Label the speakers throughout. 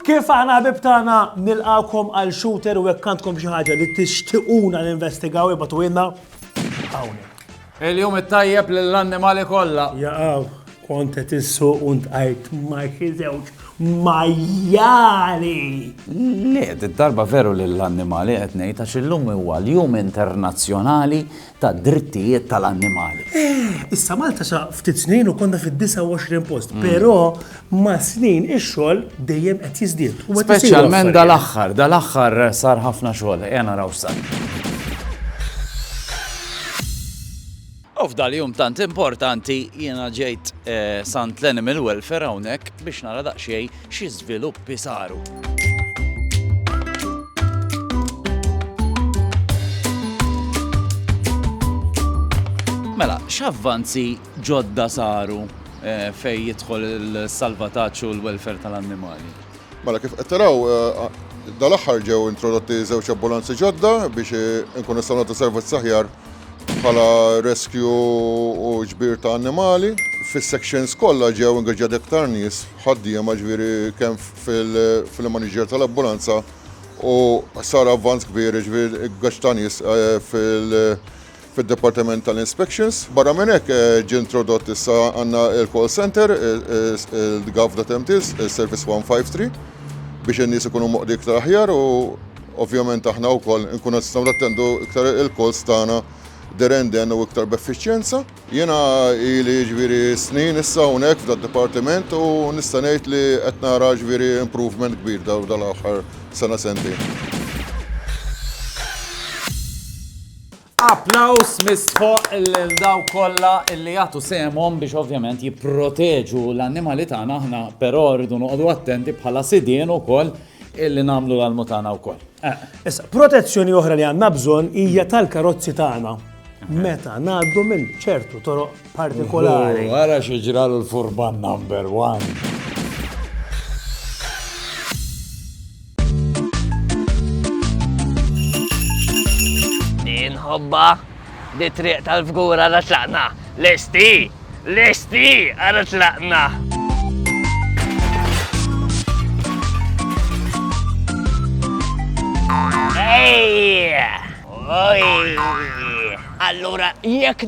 Speaker 1: Kif aħna ħbib tagħna nilqgħukom għal shooter u hekk għandkom xi ħaġa li tixtiquna ninvestigaw ibatuilna hawnhekk. Il-jum
Speaker 2: it-tajjeb lill-annimali kollha. Jaqaw, kont
Speaker 1: qed insuq u ntqajt ma' xi żewġ majjali. Le,
Speaker 2: did-darba veru lill-annimali qed ngħid għax illum huwa l-Jum Internazzjonali tad-Drittijiet tal-Annimali. Eh, issa Malta
Speaker 1: sa ftit snin u konna fid-29 post, pero' Mas-snin ix-xogħol dejjem qed jiżdied u qed isiru affarijiet. Speċjalment
Speaker 2: dal-aħħar, dal-aħħar sar ħafna xogħol. Ejja naraw x'sar. U f'dal-jum tant importanti jiena ġejt sant l-Animal Welfare hawnhekk biex nara daqsxejn xi żviluppi saru. Mela, x'avvanzi ġodda saru fejn jidħol is-salvataġġ u l-welfare tal-annimali. Mela kif qed
Speaker 3: taraw, dal-aħħar ġew introdotti żewġ ambulanzi ġodda biex inkunu nistgħu nagħtu servizz aħjar bħala rescue u ġbir ta' annimali. Fis-sections kollha ġew ingaġġjat iktar nies ħaddiema ġifieri kemm fil-maniġer tal-ambulanza u sar avvanz kbir ġifieri ingaġġ ta' nies fil- fid-Dipartiment tal-Inspections. Barra minn hekk, ġie introdott issa għandna l-call center, il-gov.mts, is-Service 153, biex in-nies ikunu moqdi iktar aħjar u ovvjament aħna wkoll inkunu nistgħu nattendu iktar il-calls tagħna there and then u iktar b'effiċjenza. Jiena ili jiġifieri snin issa hawnhekk f'dad-dipartiment u nista' ngħid li qed nara jiġifieri improvement kbir dal-aħħar sena sentejn.
Speaker 2: Applaws mis-sħoq lil dawk kollha li jagħtu sehemhom biex ovvjament jipproteġu l-annimali tagħna aħna però rridu noqogħdu attenti bħala sidien ukoll illi nagħmlu l-almu tagħna wkoll. Issa,
Speaker 1: protezzjoni oħra li għandna bżonn hija tal-karozzi tagħna meta ngħaddu minn ċertu toroq partikolari. Ara xi ġralu
Speaker 2: l-furban number one.
Speaker 4: Inħobba di triq tal-fgura la tlaqna. Lesti! Lesti! Għara tlaqna! Ej! Oj! Allura, jekk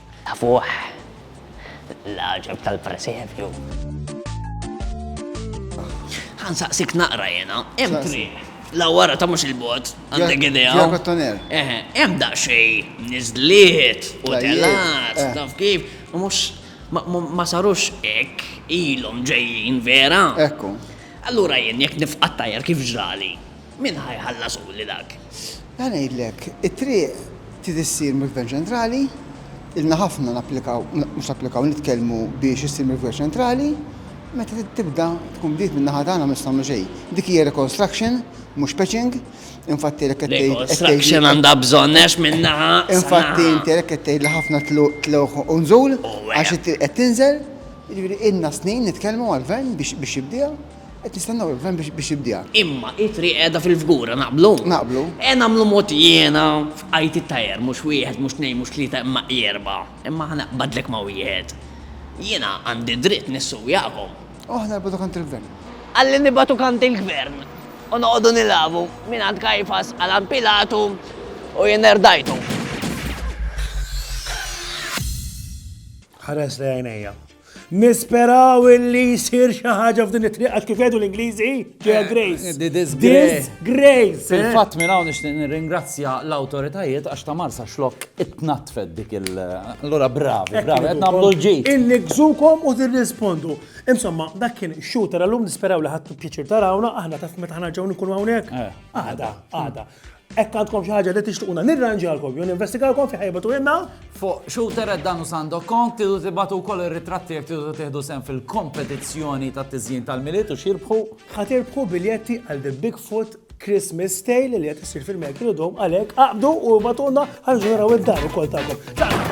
Speaker 4: Tafuh l-għaġeb tal-presepju. Għan saqsik naqra jena, hemm triq. La wara ta' mhux il-bot, għandek idea. Eħe, hemm daqsxejn niżliet u telat, eh. taf kif, u mhux ma sarux hekk ilhom ġejjin vera. Ekku.
Speaker 5: Allura jien
Speaker 4: jekk nifqat tajjar kif ġrali. Min ħa jħallasuli dak? Ħa ngħidlek,
Speaker 5: it-triq trid issir mill-Gvern Ċentrali, ilna ħafna napplikaw, mhux napplikaw, nitkellmu biex issir mill-Gvern Ċentrali, meta tibda tkun bdiet min-naħa tagħna ma nistgħu nagħmlu xejn. Dik hija reconstruction, mhux patching, infatti hekk qed tgħid. Reconstruction għandha
Speaker 4: bżonn għax min-naħa. Infatti inti hekk
Speaker 5: qed tgħid li ħafna tlewħ u nżul għax it-triq qed tinżel, jiġifieri ilna snin nitkellmu mal-Gvern biex jibdieha. Qed nistennew il-Gvern biex jibdiha. Imma it-triq qiegħda
Speaker 4: fil-fgura, naqblu? Naqblu. Ejja nagħmlu
Speaker 5: mod
Speaker 4: jiena fqajt it-tajer, mhux wieħed, mhux tnejn, mhux tlieta imma ierba'. Imma ħa naqbadlek ma' wieħed. Jiena għandi d-dritt nissuwjakom. U aħna nibgħatuk għand
Speaker 5: il-Gvern. Ħalli nibgħatuk
Speaker 4: għand il-Gvern u noqogħdu nilagħbu minn għand Kajfas għal għand Pilatu u jien erdajtu.
Speaker 1: Ħares lejn għajnejja. Nisperaw illi jsir xi ħaġa f'din it-triq għax kif jgħidu l-Ingliżi, ġeja Grace. Di disgrace. Grace. Fil-fatt minn hawn
Speaker 2: nixtieq nirringrazzja l-awtoritajiet għax ta' Marsa Xlokk itnatfet dik il Allura bravi, bravi, qed nagħmlu l-ġid. Illi gżukom
Speaker 1: u tirrispondu. Insomma, dak kien xutera l-lum nisperaw li ħadd pjaċir tarawna, aħna taf meta ħana ġew nkunu hawnhekk. Għada, għada. Hekk għandkom xi ħaġa li tixtuquna nirranġalkom jew ninvestigalkom fi ħajja twilna? Fuq
Speaker 2: shooter@danusando.com tidu tibatu wkoll ir-ritratti jekk tidu tieħdu sem fil-kompetizzjoni tat-tiżjin tal-miliet u xirbħu. Ħatirbħu biljetti
Speaker 1: għal The Bigfoot Christmas Tale li qed issir fil-Mercury Dome għalhekk aqbdu u batuna ħarġu naraw id-dar ukoll tagħkom.